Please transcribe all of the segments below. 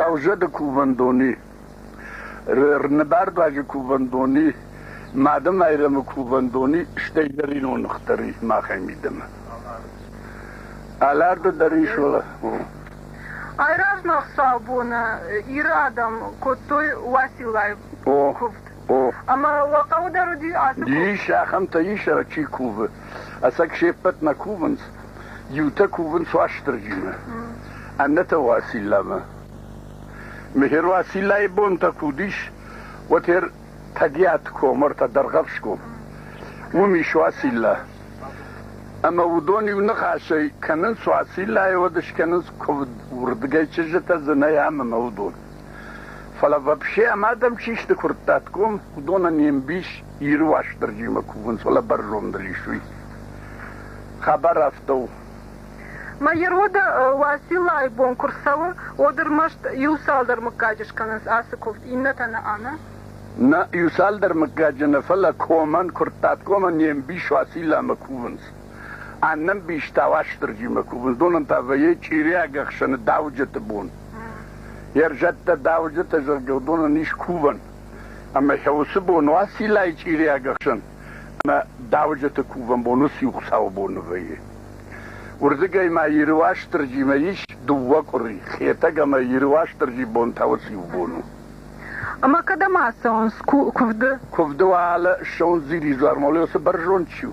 Хъӕузӕды кувӕндони, Рныбӕрдуаджы кувӕндони, Мадымайрӕмы кувӕндони, стӕй дӕр ирон ныхтӕр и махӕй мидӕмӕ. Аларды дӕр ис уӕ. Айразмӕ цал боны Иры адӕм кодтой Уациллайы куывд? Ӕмӕ уӕ хъӕуы дӕр уыди ацы кув? Ис, ахӕмтӕ ис, ӕрӕг чи кувы. Ӕцӕг се ппӕт нӕ кувынц. Иутӕ кувынц Уастырджимӕ, аннӕтӕ Уациллӕмӕ. Мехер Уациллӕйы бонтӕ куы уыдис, уӕд хер Тӕгиат ком ӕртӕ Дӕргъӕвсгом. Уым ис Уацилла. Ӕмӕ уыдон иу ныхасӕй кӕнынц Уациллӕйы уӕд скӕнынц куывд, уырдыгӕй чызджытӕ дзы нӕй ам ӕмӕ уыдон. Фӕлӕ вообще ӕмӕ адӕм чи сты куырттатгом, уыдонӕн не мбис Иры Уастырджимӕ кувынц, фӕлӕ бӕрзонддӕр ис уый. Хабар афтӕ у. Мӕйы роды Уациллайы бон куы рцӕуы, уӕд ӕрмӕст иу-цалдӕр мыггаджы скӕнынц ацы куывд, иннӕтӕ нӕ ӕнӕ. Нӕ иу-цалдӕр мыггаджы нӕ, фӕлӕ комӕн, куырттатгомӕн не мбис Уацилламӕ кувынц. Ӕнӕмбистӕ Уастырджимӕ кувындонӕн та вӕййы чъириаг ӕхсӕны дауджыты бон. Йе рзӕттӕ дауджыты зӕгъгӕ уыдонӕн ис кувӕн. Ӕмӕ йӕ уыцы бон Уациллайы чъириаг ӕхсӕн ӕмӕ дауджыты кувӕн бон уыц иу Хуыцауы боны вӕййы. Уырдыгӕй ма Иры Уастырджимӕ ис дыууӕ къуыри, Хетӕг ӕмӕ Иры Уастырджи бон та уыц иу бон у. Ӕмӕ кӕдӕм ацӕуынц куывды? Куывды уӕлӕ ссӕуынц Дзири дзуармӕ, уый уыцы бӕрзонд чи у.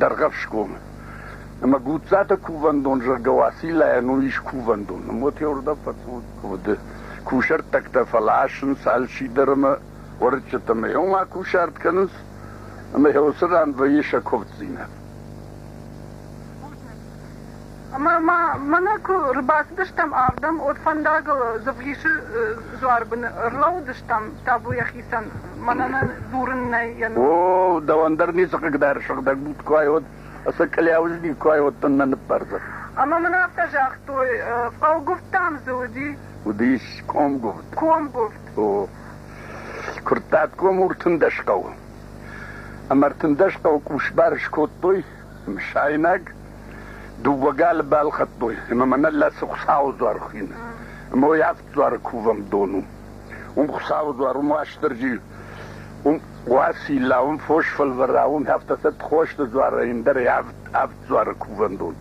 Дӕргъӕфсгомы. Ӕмӕ Гуццаты кувӕндон, зӕгъгӕ, Уациллайӕн уый ис кувӕндон. Мотя уырдӕм фӕцуды. Кусӕрттӕгтӕ фӕласынц алчидӕр ӕмӕ уӕрыччытӕ ӕмӕ йыл ма кусарт кӕнынц, ӕмӕ йӕ уыцы ран вӕййы сӕ куывддзинад. Ӕмӕ ма мӕнӕ куы ӕрбацыдыстӕм ардӕм, уӕд фӕндагыл Дзывгисы дзуарбыны ӕрлӕууыдыстӕм табуйӕ хицӕн. Мӕнӕ нӕ дурын нӕй йӕ ном. О, дӕуӕн дӕр ницы хъыгдары сыгъдӕг буд куы айод, ӕцӕг къляуызник куы айодтон нӕ ныббӕрзӕд. Ӕмӕ мын афтӕ загътой, фӕлгуывдтӕм дзы уыди. Уыдис комгуывд. Комгуывд. О, Куырттатгом уртындӕс хъӕуы. Ӕмӕ ӕртындӕс хъӕуы къусбар скодтой. Мысайнаг дыууӕ галы балхӕдтой, ӕмӕ мӕнӕ цы Хуыцауы дуар хины. Ӕмӕ уый авд дуары кувӕн дон у. Уым Хуыцауы дуар, уым Уастырджи, уым Уацилла, уым фос фӕлвӕра, уым афтӕ сӕ хосты дуарӕй ӕндӕр авд, авд дуары кувӕн дон.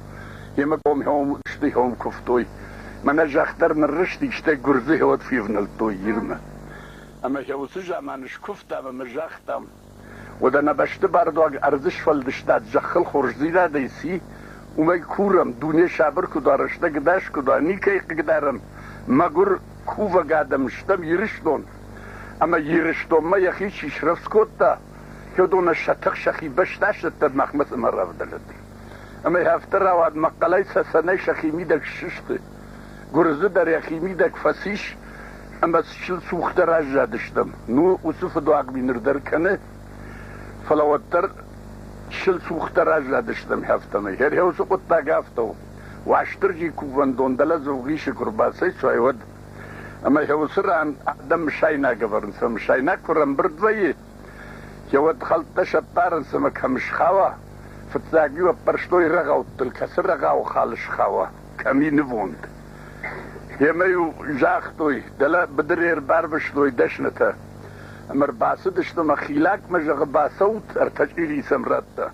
Йемӕ комхиом стыхиом куывтой. Мӕнӕ зӕхх дӕр ныррызти, стӕй гуырдзыхи ӕд февнӕлдтой ирмӕ. Ӕмӕ йӕ уыцы заман скуывтам ӕмӕ загътам, уӕд ӕнӕбӕсты бардуаг ӕрдзы сфӕлдыстад зӕххыл хорздзинадӕй ци? Уымӕй курӕм, дуне сабыр куы уа, рӕстӕг ӕдас куы уа, никӕй хъыгдарӕм, мӕгуыр, кувӕг адӕм стӕм Ирыстон. Ӕмӕ Ирыстонмӕ йӕхи чи срӕвдз кодта, уыдонӕн сӕ тых сӕхи бӕстӕ сдӕттӕд махмӕ цӕмӕ равдӕлӕд. Ӕмӕ афтӕ рауад, мӕхъхъӕлӕй цӕцӕнӕй сӕхи мидӕг ссысты. Гуырдзы дӕр йӕхимидӕг фӕцис ӕмӕ чысыл цухдӕр аззадыстӕм. Ну, уыцы фыдуаг ми ныр дӕр кӕны, фӕлӕ уӕддӕр чысыл цухдӕр аззадыстӕм хӕфтӕмӕ. Хӕрхӕ уыцы хъуыддаг афтӕ у. Уастырджи кувӕндон дӕлӕ Дзугъисы куы рбацӕйцуай, уӕд. Ӕмӕ хӕ уыцы ран адӕм мысайнаг ӕвӕрынц, ӕмӕ мысайнаг куы ӕрӕмбырд вӕййы, хӕ уӕд хӕлттӕ сӕппарынц ӕмӕ кӕм схауа. Фыццаг-иу ӕппӕрстой рӕгъӕуттыл, кӕцы рӕгъауы хал схауа. кӕми нивонд. Емӕ-иу загътой, дӕлӕ быдыры ӕрбарвыстой дӕснытӕ. Ӕмӕ рбацыдысты мӕ хилакмӕ, зӕгъы, бацӕут, ӕртӕ чъири сӕм радта.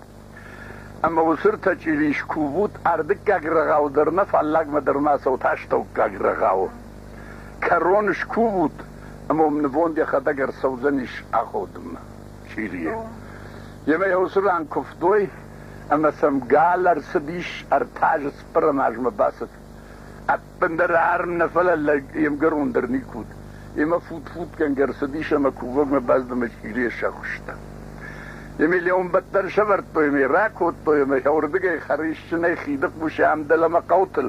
Ӕмӕ уыцы ртӕ чъири скувут, ардыггаг рӕгъау дӕр нӕ, фаллагмӕ дӕр ма цӕут астӕуккаг рӕгъауы. Кӕрон скувут, ӕмӕ уым нывонд йӕхӕдӕг ӕрцӕудзӕнис аходынмӕ, чъирийы. Емӕ йӕ уыцы ран куывтой, ӕмӕ сӕм гал ӕрцыдис, ӕртӕ азы цыппӕрӕм азмӕ бацыд. Ӕппындӕр арм нӕ, фӕлӕ лӕг йе'мгӕрон дӕр никуы уыд. Йемӕ фут-футгӕнгӕ ӕрцыдис ӕмӕ кувӕгмӕ бӕзбымӕ чъирийӕ сӕхуыста. Йемӕ леуанбӕтт дӕр сӕвӕрдтой ӕмӕ ракодтой ӕмӕ уырдыгӕй хӕрисджынӕй хидыхъусы ӕмдӕлӕмӕ хъӕутыл.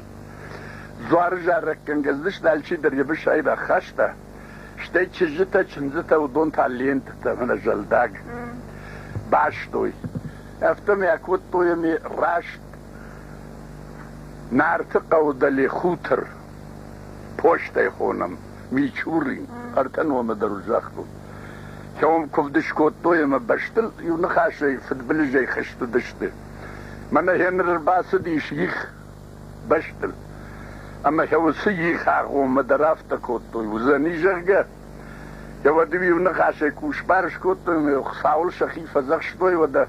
Дзуары зарӕггӕнгӕ дзыст алчидӕр йӕ бысӕй бахаста. Стӕй чызджытӕ, чындзытӕ уыдон та лентӕтӕ мӕнӕ зӕлдаг бастой. Афтӕ мӕ кодтой ами раст Нарты хъӕуы дӕле хутыр постӕй хонӕм Мичурин, ӕртӕ номы дӕр уын загътон. Кӕуыл куывд скодтой ӕмӕ бӕстыл иу ныхасӕй фыдбылызӕй хызтыдысты. Мӕнӕ Генри рбацыдис их бӕстыл. Ӕмӕ йӕ уыцы их агъоммӕ дӕр афтӕ кодтой, уыдзӕни, зӕгъгӕ. Йӕ уӕды-иу ныхасӕй ку сбар скодтой, Хуыцауыл сӕхи фӕдзӕхстой, уӕдӕ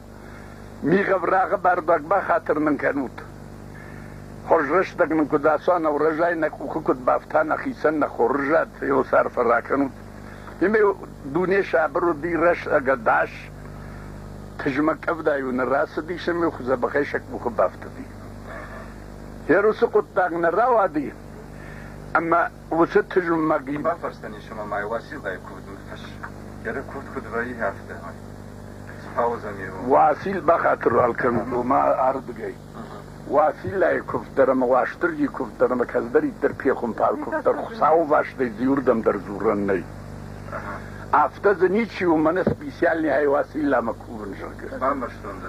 мигъ-ӕврагъы бардуаг бахатыр нын кӕнут. Хорз рӕстӕг нын куыд ацуа, нӕ урӕзӕй нӕ къухы куыд бафта, нӕхицӕн нӕ хорз зӕд ӕлыс арфӕ ракӕнут. Ӕмӕ дуне сабыр уыди, рӕстӕг ӕдас, тызмӕг къӕвда-иу нӕ рацыдис ӕмӕ дзӕбӕхӕй сӕ къухы бафтыди. Йер уыцы хъуыддаг нӕ рауади, ӕмӕ уыцы тызмӕг бафарстан ис ӕмӕ ма Уасилдайы куывд Йеры куывд куыд вӕййы, афтӕ. Уасил бахатыр кӕнут, ома ардыгӕй. Уасиллайы куывд дӕр ӕмӕ Уастырджи куывд дӕр ӕмӕ кӕцыдӕриддӕр пехуымпар куывд дӕр Хуыцауы вӕстӕй зиуырдӕм дӕр дзурӕн нӕй. Афтӕ дзы ничи у, мӕнӕ специальнӕй Уасилламӕ кувын, зӕгъгӕ. Бамбӕрстон дӕ.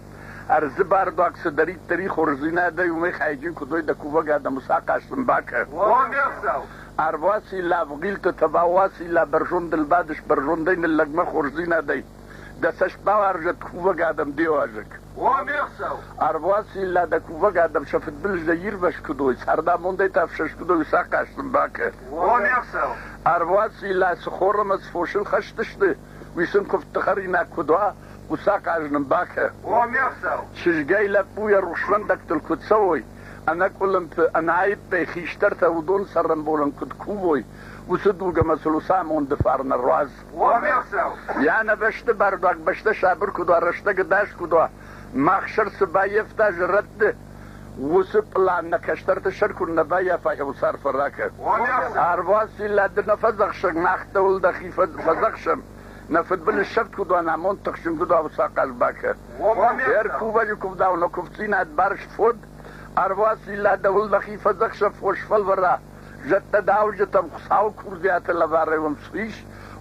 ӕрдзы бардуаг цыдӕриддӕр и хорздзинадӕй, уымӕй хайджын куыд уой дӕ кувӕг адӕмы сахъат сын бакӕ. Ӕрвуаци лӕвгъилты тӕбауаци лӕ бӕрзондыл бадыс, бӕрзондӕй ныллӕгмӕ хорздзинадӕй дӕ цӕст бауарзӕд кувӕг адӕм де уазӕг. Ӕрвуаци лӕ дӕ кувӕг адӕм сӕ фыдбылыз дӕ ирвӕз куыд уой, цардамондӕй та фсӕст куыд уой, уый сахъат сын бакӕ. Ӕрвуаци лӕ цы хор ӕмӕ цы фосыл хӕсдысты, Уый сын куывдты хӕринаг куыд уа, хъуцахъ ӕз нын бакӕ. О, ме хсӕв! Чызгӕй лӕппу йӕ рухсвӕндӕгтыл куыд цӕуой, ӕнӕкъуылымпы, ӕнӕаиппӕй хистӕртӕ уыдон цӕрӕнбонӕн куыд кувой, уыцы дуг ӕмӕ сыл уыцы амонды фарн ӕруадз. О, ме хсӕв! Йӕ ӕнӕбӕсты бардуаг бӕстӕ сабыр куыд уа, рӕстӕгы дӕс куыд уа, Мах сӕр цы баййӕфта зӕрӕдты, уыцы пълан нӕ кӕстӕрты сӕр куы нӕ баййафай хъуыдцы арфӕ ракӕн. Ӕрвуасин лӕдды нӕ фӕдзӕхсӕг, мах дӕуыл дӕхи фӕдзӕхсӕм. Нӕ фыдбылыз сӕфт куыд уа, амонд тыхджын куыд уа, уыцы ахъаз бакӕ. Ӕркувӕджы куывдау нӕ куывддзинад барст фод, ӕрвуасин лӕд дӕуыл дӕхи фӕдзӕхсӕм, фос фӕлвӕра. Зӕдтӕ дауджытӕм Хуыцауы курдиаты лӕварӕй уынцъ ис,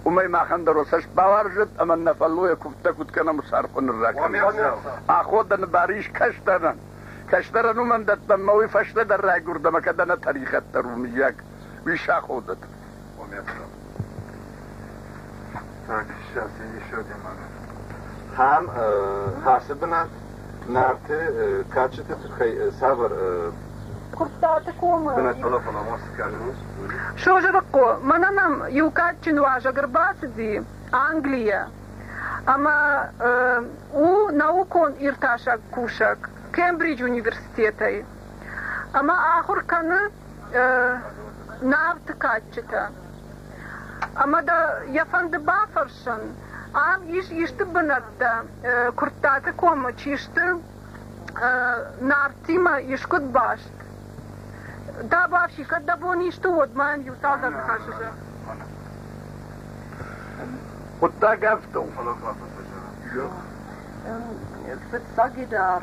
уымӕй махӕн дӕр уӕ цӕст бауарзӕт ӕмӕ нӕ фӕллойӕ куывдтӕ куыд кӕнӕм уыцы архъуы нырра кӕнӕм. Аходӕны бар ис кӕсдӕрӕн. Кӕсдӕрӕн уымӕн дӕттӕм ӕмӕ уый фӕстӕдӕр райгуырд ӕмӕ кӕд ӕнӕ тӕригъӕд дӕр у, мыййаг, уый саходӕт. Ам хӕсы бынат Нарты кадджыты тыххӕй цавӕр Куырттаты комы. Созырыхъо, мӕнӕ нӕм иу кадджын уазӕг ӕрбацыди Английӕ. Ӕмӕ у наукон иртасӕг кусӕг Кембридж университетӕй. Ӕмӕ ахуыр кӕны Нарты кадджытӕ. Ӕмӕ дӕ йӕ фӕнды бафӕрсын, ам ис исты бынӕттӕ, Куырттаты комы чи сты Нартимӕ искуыд баст? Дӕ бафси, кӕд дӕ бон исты уӕд мӕм иу цалдӕр ныхасы зӕгъ. Хъуыддаг афтӕ у. Фӕлӕ фӕфӕтӕзӕн. Фыццаг идӕр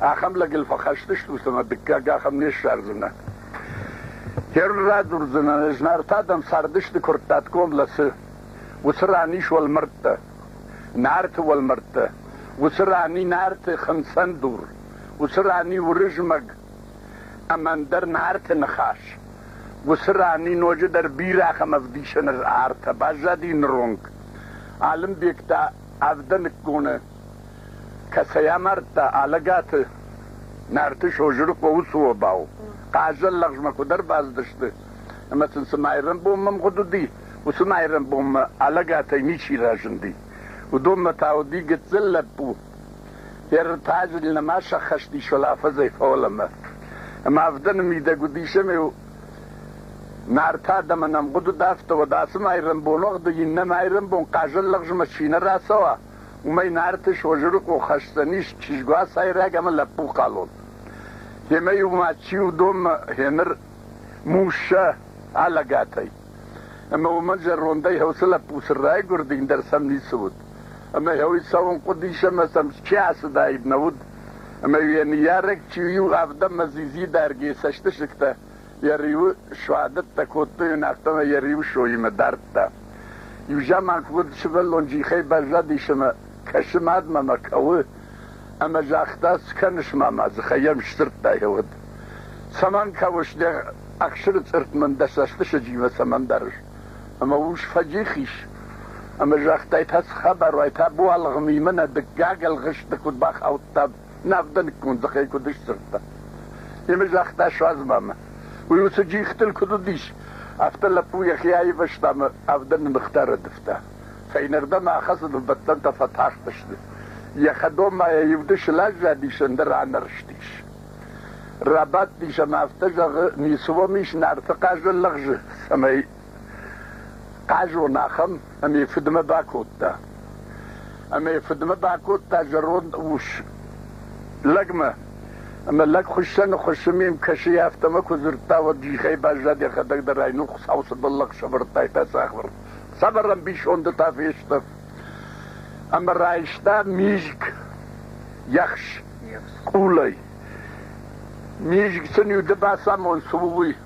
ахӕм лӕгыл фӕхӕсдзыстут ӕмӕ дыккаг ахӕм не ссардзынӕ. Херн радурдзынӕ, знартӕ адӕм цардысты Куырттатгом лӕцы. Уыцы ран ис уӕлмӕрдтӕ, нарты уӕлмӕрдтӕ. Уыцы ран и нарты хынцӕн дур, уыцы ран и Уырызмӕг ӕмӕ ӕндӕр нарты ныхас. Уыцы ран и ноджыдӕр бирӕ ахӕм ӕвдисӕны артӕ баззади ныронг. Алымбег та Авдӕныкконы Кӕцӕй амардта Алӕгаты Нарты Созырыхъо уыцы обау? Хъазӕн лӕгъзмӕ куыд ӕрбацыдысты ӕмӕ сын цы майрӕмбонмӕ мгъуыд уыди, уыцы майрӕмбонмӕ Алӕгатӕй ничи разынди. Уыдонмӕ та уыди гыццыл лӕппу. Ӕртаджыл нӕма сӕххӕст ис фӕлӕ афӕдзӕй фӕуӕлӕмӕ. Ӕмӕ авдӕны мидӕг уыдис ӕмӕ-иу Нарты адӕмӕн ӕмгъуыд уыд, афтӕ уӕд ацы майрӕмбон уӕгъды иннӕ майрӕмбон хъазӕн лӕгъзмӕ чи нӕ рацӕуа, уымӕй Нарты Созырыхъо хӕсдзӕнис чызгуацайраг ӕмӕ лӕппухъалон. Гъемӕ-иу ма Чилдонмӕ гъеныр Муссӕ алӕгатӕй. Ӕмӕ уымӕн зӕрондӕй гьӕуцы лӕппу цы райгуырдин дӕр сӕм ницы уыд. Ӕмӕ гьӕуи цӕуын хъуыдис ӕмӕ сӕм чи ацыдаид нӕ уыд. Ӕмӕ йӕ ныййарӕг чи у, иу авдӕнмӕ дзидзи дарг йӕ цӕстысыгтӕ Йӕ риуы суадӕттӕ кодтой ын, афтӕмӕй йӕ риуы сойимӕ дардта. Иу заман уыд сывӕллон джихӕй баззадис ӕмӕ кӕсы мадмӕ мӕ кӕуы, ӕмӕ загъта, Цы кӕныс, мама, дзыхӕй йӕм сдзырдтай уыд. Цӕмӕн кӕуыс, де ӕхсыры цъыртт мын дӕ цӕстысыджимӕ цӕмӕн дарыс? Ӕмӕ ус фӕджих ис. Ӕмӕ загътай, Та цы хабар уай, та буалыгъмимӕ нӕ дыккаг ӕлгъыст ды куыд бахаудтав? Нӕ авдӕныккон дзыхӕй куыд сдзырдта. Йемӕ загъта суадз мамӕ. Уый уыцы джихтыл куыд уыдис, афтӕ лӕппу йӕхи аивӕзта ӕмӕ авдӕны ныхтӕ рӕдывта. Фӕйнӕрдӕм ахӕцыдыл бӕттӕнтӕ фӕтахтысты. Йӕ хӕдоммӕйӕ иу-дыщыл аззадис, ӕндӕр анӕрстис. Рабадтис ӕмӕ афтӕ зӕгъы, Ницы уӕм ис, Нарты хъазӕн лӕгъзы ӕмӕ Хъазон ахӕм, ӕмӕ йӕ фыдмӕ бакодта. Ӕмӕ йӕ фыдмӕ бакодта зӕронд ус лӕгмӕ. Ӕмӕ лӕг хуыссӕны хуыссын ме мкӕсы афтӕмӕ куы дзырдта, уӕд джихӕй баззад йӕхӕдӕг дӕр ай, ну Хуыцау цы бӕллӕх сӕвӕрдтай та сахуыр. Сӕвӕр ӕмбисонды та фестӕф. Ӕмӕ райста мизг ехс къулӕй. Мизг сын уды бацамон цы у, уый.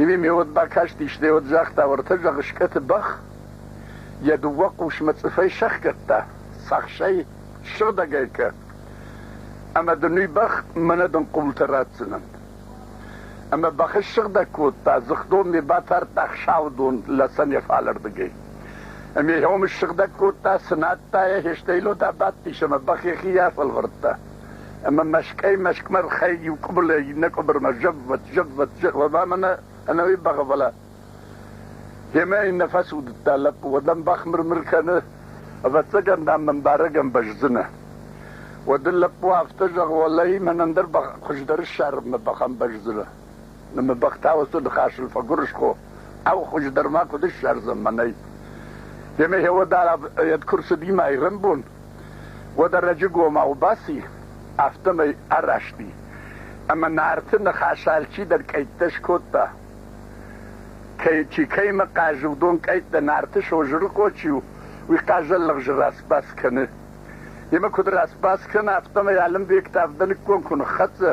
Иуе ме уӕд бакастисты, уӕд загъта, уӕртӕ зӕгъ скъӕты бӕх, йӕ дыууӕ хъусмӕ цъыфӕй сӕхгӕдта, сахсӕй сыгъдӕгӕй кӕ, ӕмӕ дын уый бӕх мӕнӕ дын къултӕ ратдзынӕн. Ӕмӕ бӕхы ссыгъдӕг кодта, дзыхдон ме батардта хсаудон лӕсӕн йӕ фалӕрдыгӕй. Ӕмӕ йӕ ом ссыгъдӕг кодта, цынадта йӕ, хестӕй лотӕ бадтис ӕмӕ бӕх йӕхи афӕлвӕрдта. ӕмӕ мӕскӕй-мӕскъмӕ хай иу къуыбылӕй иннӕ къуыбырмӕ зӕввӕт-зӕввӕт-зӕввӕт ӕмӕ ӕнӕуи бӕгъвӕлӕ. Йемӕ иннӕ фӕцудыдта лӕппу, уӕдӕм бахмыр-мыр кӕны, ӕвӕццӕгӕн, дам, мӕн барӕг ӕмбӕздзынӕ. Уӕд ын лӕппу афтӕ зӕгъы, уӕлӕ мӕн ӕндӕр бӕх, хуыздӕр ссарынмӕ бӕх ӕмбӕздзынӕ. Ныммыбӕхтӕ уыцы ныхасыл фӕгуырысхо, ау, хуыздӕр ма куыд ссардзӕн мӕнӕй? Демӕ Хеодар ед куы рцыдимӕ ирӕнбон, уӕд ӕрӕджыгомау баци, афтӕмӕй араст и, ӕмӕ Нарты ныхас алчидӕр къӕйттӕ скодта. Кӕй, чи кӕимӕ хъазы, уыдон къӕйттӕ Нарты Созырыхъо чи у, уый хъазӕллӕгзы рацбац кӕны. Йемӕ куыд рацбац кӕна, афтӕмӕй Алымбек та авдӕныккон куы ныххӕццӕ,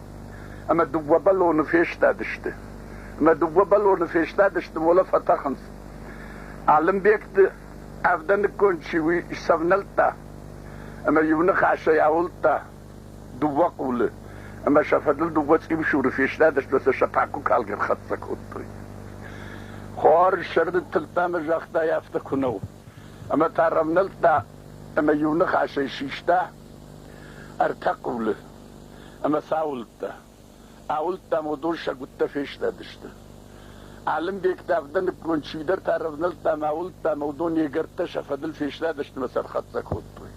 ӕмӕ дыууӕ бӕлоны фестадысты. Мӕ дыууӕ бӕлоны фестадысты, уӕлӕ фӕтӕхынц. Алымбегты авдӕныккон чи уый сӕвнӕлдта ӕмӕ иу ныхасӕй ауылдта дыууӕ къулы, ӕмӕ сӕ фӕдыл дыууӕ цъиусуры фестадысты, сӕ сӕ пакуы калгӕ рхӕццӕ кодтой. Хуар сӕрды тылдта ӕмӕ загъта, афтӕ куы нӕу. Ӕмӕ та рӕвнӕлдта ӕмӕ иу ныхасӕй систа ӕртӕ къулы. ӕмӕ сӕ уылдтӕ. Ауылдтӕм уыдон сӕ гуыттӕ фестадысты. Алымбег та авдӕныккон чидӕртӕ ӕрӕвнӕлдта ӕмӕ ауылдта ӕмӕ уыдон йе гӕрдтӕ сӕ фӕдыл фестадысты ӕмӕ сӕ ӕрхӕццӕ кодтой.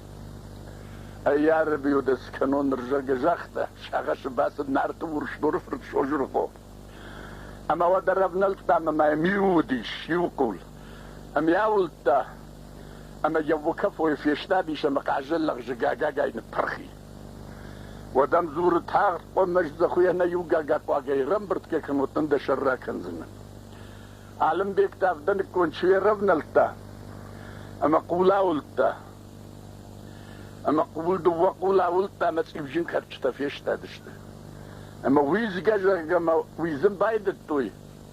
Ӕй-ӕрӕбиу дӕ скӕнон ныр, зӕгъгӕ, загъта, сагъӕсы бацыд Нарты Урсдоры фырт Созырыхъо. Ӕмӕ уӕд ӕрӕвнӕлдта ӕмӕ ма йӕм иу уыдис, иу хъул. Ӕм йӕ ауылдта ӕмӕ йӕ Вокафойы фестадис ӕмӕ хъазӕн лӕгъзы гагагай ныппырх и. Уӕд ӕм дзуры, тагъд хъуамӕ ӕздзӕхуыйӕ нӕ иу гагакъуагӕй ӕрӕмбырдгӕ кӕнут, дӕ сӕр ракӕндзынӕн. Алымбег та авдӕныккон чи ӕрӕвнӕлдта ӕмӕ хъул ауылдта. Ӕмӕ хъул дыууӕ хъул ауылдта ӕмӕ цъипджын кӕрчытӕ фестадысты. Ӕмӕ уидзгӕ, зӕгъгӕ, мӕ уидзын байдыдтой,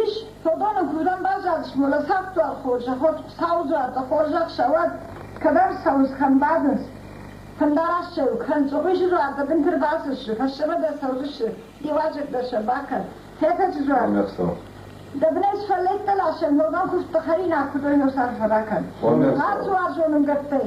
Ис, Содамӕ дзурӕн баззадис, фӕлӕ цавддуар хорзӕход Сауы дзуартӕ хорзӕх сӕуӕд, кӕдӕм цӕуынц, кӕм бадынц. Фӕндараст сӕ у, кӕн, Цъобыйы дзуартӕ бынты ӕрбацыдысты, фӕстӕмӕ дӕр цӕудзысты, иуазӕгтӕ сӕ бакӕн. Фӕтӕджы дзуар. Дӕ бынӕй сфӕллайд хъӕлӕсӕй ногӕн куывдтӕ хӕринаг куыдой носаргъ фӕбакӕн. Ацу уарзон уынгӕрдтӕй.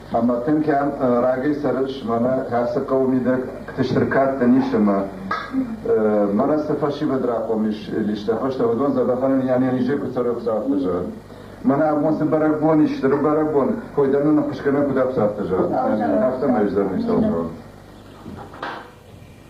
Ӕмбӕртын кӕм рагӕй цӕрыс, мӕнӕ ацы хъӕуы мидӕгты сркадтӕ ницы ӕмӕ мӕнӕ цы фӕсивӕд рахъом ис листӕ фӕстӕ, уыдон дзӕбӕхӕн йӕ низе куы цӕры ӕфсӕдты зӕгъын. Мӕнӕ абон цы бӕрӕгбон ис, стыр бӕрӕгбон, кой дӕр нын ӕххуысгӕнӕг куыд ӕфсӕдты зӕгъын, афтӕмӕй уыдзӕн ницӕуыл зӕгъын.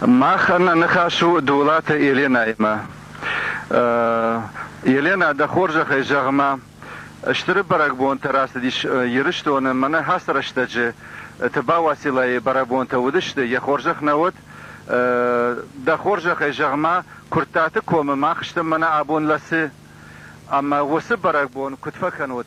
Махӕн нӕ ныхас у Дулаты Еленӕимӕ. Еленӕ, дӕ хорзӕхӕй зӕгъ-ма, стыр бӕрӕгбонтӕ рацыдис Ирыстоны. Мӕнӕ ацы рӕстӕджы Тыба Уациллайы бӕрӕгбонтӕ уыдысты, йӕ хорзӕх нӕ уӕд. Дӕ хорзӕхӕй зӕгъ-ма, Куырттаты комы мах стӕм мӕнӕ абон лӕцы. Ӕмӕ уыцы бӕрӕгбон куыд фӕкӕнут?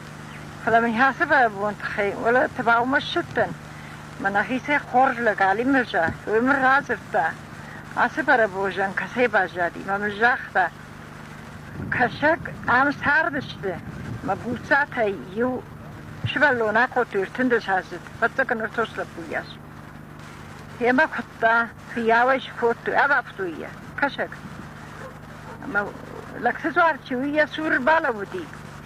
Фӕлӕ мын ацы бӕрӕгбон тыххӕй уӕлӕрвты баумӕссыдтӕн, мӕ нӕхицӕй хорз лӕг Алимырза уый мын радзырдта, ацы бӕрӕгбонзӕн кӕцӕй баззади, мӕ мын загъта, кӕсӕг ам цардысты, мӕ буццатӕй иу сывӕллон акодтой ӕртындӕсаздзыд фӕццӕгӕн ӕртос лӕппуйас. Йемӕ куыдта, фыййау ӕй скодтой, абафтой йӕ, кӕсӕг. Ӕмӕ лӕгты дзуар чи у, йӕ цур балӕууыди.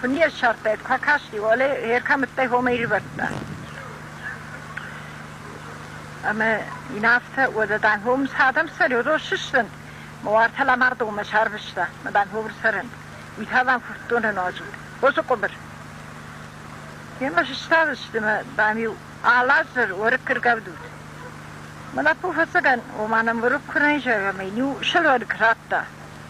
Фын йе ссардтаид, куы акасти, уалӕ йе ркӕмыдтӕй хомӕ ӕривӕрдта. Ӕмӕ йын афтӕ, уӕдӕ дан хомы цы адӕм цӕрёдон ссыдзӕн? Мӕ уартӕ Ламардонмӕ сарвыста, мӕ дан ховыр цӕрӕнт. Уый та дан куывддоны нуаз уыд. Хъуызы къуыбыр. Йемӕ сыстадысты мӕ, дам-иу Алазыр уӕрыкк ӕргӕвдут. Мӕ лӕппу фӕцӕгӕн, ома нӕм уӕрыкк куы нӕ изӕгъа, мӕ йын-иу сылгойраг радта.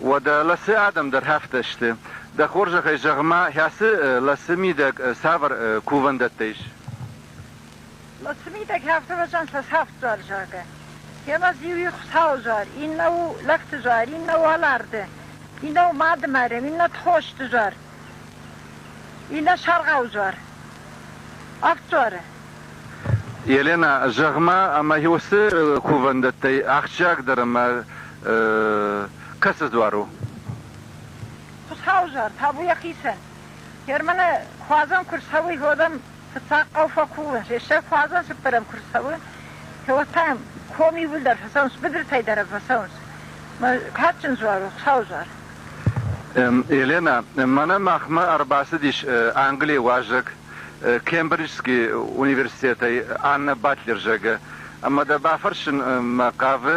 Уӕдӕ ласы адӕм дӕр афтӕ сты. Дӕ хорзӕхӕй зӕгъ-ма, хӕцы ласы мидӕг цавӕр кувӕндӕттӕ ис? Ласы мидӕг хӕфтывӕзӕн фӕсӕфтдзуар загӕ. Йемӕ иу у Хуыцауы зуар, иннӕ у лӕгты зуар, иннӕ уӕларты, иннӕ у мады марӕн, иннӕ тхосты зуар, иннӕ саргъау зуар. Авд дзуары. Еленӕ, зӕгъ-ма, ӕмӕ уыцы кувӕндӕттӕй ахсджиагдӕр ӕмӕ кӕцы дзуар у? Хуыцауызӕр, табу йӕхицӕн! Германы куадзӕн куы рцӕуы, уӕд ӕм фыццаг хъӕу фӕкувын, рессаг куадзӕн цыппӕрӕм куы рцӕуы, кӕуӕд та йӕм ком иууылдӕр фӕцӕуынц, быдыртӕй дӕрӕг фӕцӕуынц. Кадджын дзуар у, Хуыцауызӕр! Еленӕ, мӕнӕ махмӕ ӕрбацыдис Английы уазӕг Кембриджский университетӕй Анна Батлер, зӕгъы, ӕмӕ дӕ бафӕрсын мӕ хъавы,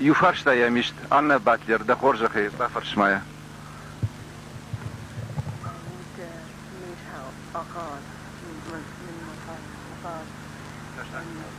иу фарстайӕ мист, Анна Батлер, дӕ хорзӕхӕй, бафӕрс-ма йӕ. need help. I can't. My, my, my card. My card.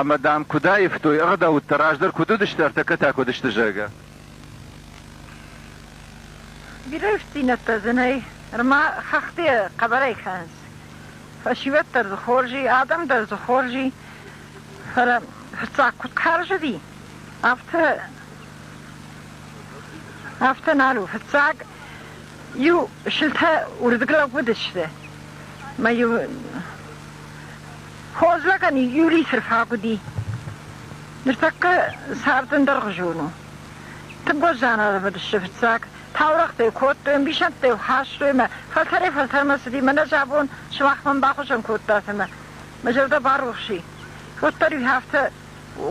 ӕмӕ, дам, куыд аивтой ӕгъдӕуттӕ, раздӕр куыд уыдысты, ӕртӕккӕ та куыд сты, зӕгъгӕ. Бирӕ ифтингӕдтӕ дзы нӕй, ӕрма хӕхты хъӕбӕрӕй кӕнынц. Фӕсивӕд дӕр дзы хорз и, адӕм дӕр дзы хорз и. Фӕлӕ фыццаг куыд хӕрзыди, афтӕ афтӕ нал у. Фыццаг иу сылтӕ уырдыг лӕг уыдысты, мӕ иу Хорз лӕгӕн Юрий сырхаг уыди. Ныртӕккӕ цардӕн дӕргъы зон у. Тынг уӕздан ӕрӕвыдысты фыццаг. Таурӕгътӕ йыл кодтой, ӕмбисӕндтӕ йыл хастой мӕ фӕлтӕрӕй-фӕлтӕрмӕ цыди. Мӕнӕ зӕбон сымах мӕн бахуызӕн кодтат ӕмӕ мӕ зӕрдӕ барухс и. Уӕддӕр-иу афтӕ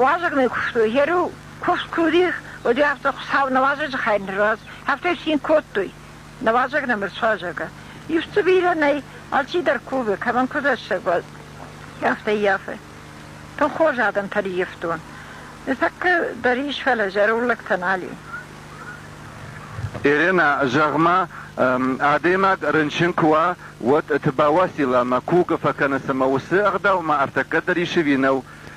уазӕгмӕ куывтой. Йӕ риу куывд куы уыди, уӕд-иу афтӕ Хуыцау нӕ уазӕджы хай нырраз, афтӕ-иу цин кодтой. Нӕуазӕг нӕ мырсуазӕг ӕ. Иуфтдзы бирӕ нӕй, алчидӕр кувы, кӕмӕн куы рӕстӕг уа, афтӕ ййафы. Тынг хорз адӕмтӕ риефтон. Ныртӕккӕ дӕр ис, фӕлӕ зӕронд лӕгтӕ нал и. Иринӕ, зӕгъ-ма, адӕймаг рынчын куы уа, уӕд ты бауасил ӕмӕ куы фӕкӕны, цымӕ уыцы ӕгъдау ма ӕртӕккӕ дӕр ис ӕви нӕу?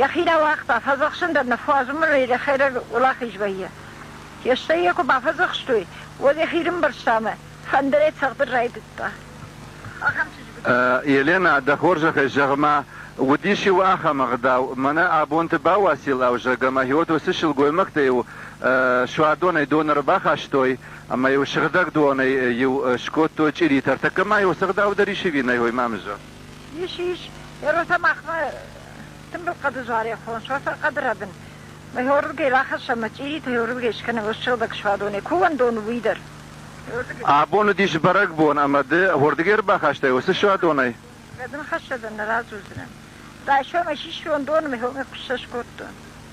Йӕхи рауагъта, фӕдзӕхсын дӕр нӕ фӕзмы, хӕрӕг уӕлахиз вӕййы. Фестӕй йӕ куы бафӕдзӕхстой, уӕд йӕхи рымбӕрзта ӕмӕ фӕндырӕй цӕгъдын райдыдта. Ахӕм чызг уыд. Еленӕ, дӕ хорзӕхӕй, зӕгъ-ма, уыдис-иу ахӕм ӕгъдау, мӕнӕ абонты Бауасил-ӕу зӕгг ӕмӕ Иод уыцы сылгоймӕгтӕ-иу суадонӕй дон ӕрбахастой ӕмӕ-иу сыгъдӕг донӕй-иу скодтой чъиритӕ. Ӕртӕккӕ ма-иу цы гъдау дӕр исиви нӕ Мамызӕн. Мишиш, еротӕ махмӕ тымбыл хъӕды зарӕхон, сосӕр хъӕды рӕбын. Мӕ хорзгӕй рахӕссӕм мӕ чъиритӕ, хорзгӕй скӕнӕм ӕз сыгъдӕг суадонӕй. Куы уӕндон, уый дӕр. Абон уыдис бӕрӕгбон ӕмӕ ды уырдыгӕй ӕрбахастай уыцы суадонӕй? Кӕд ын хӕссӕдӕн нӕ радзурдзынӕн. Райсом ӕй систон доны, мӕ хомӕ куы ссӕ скодтон.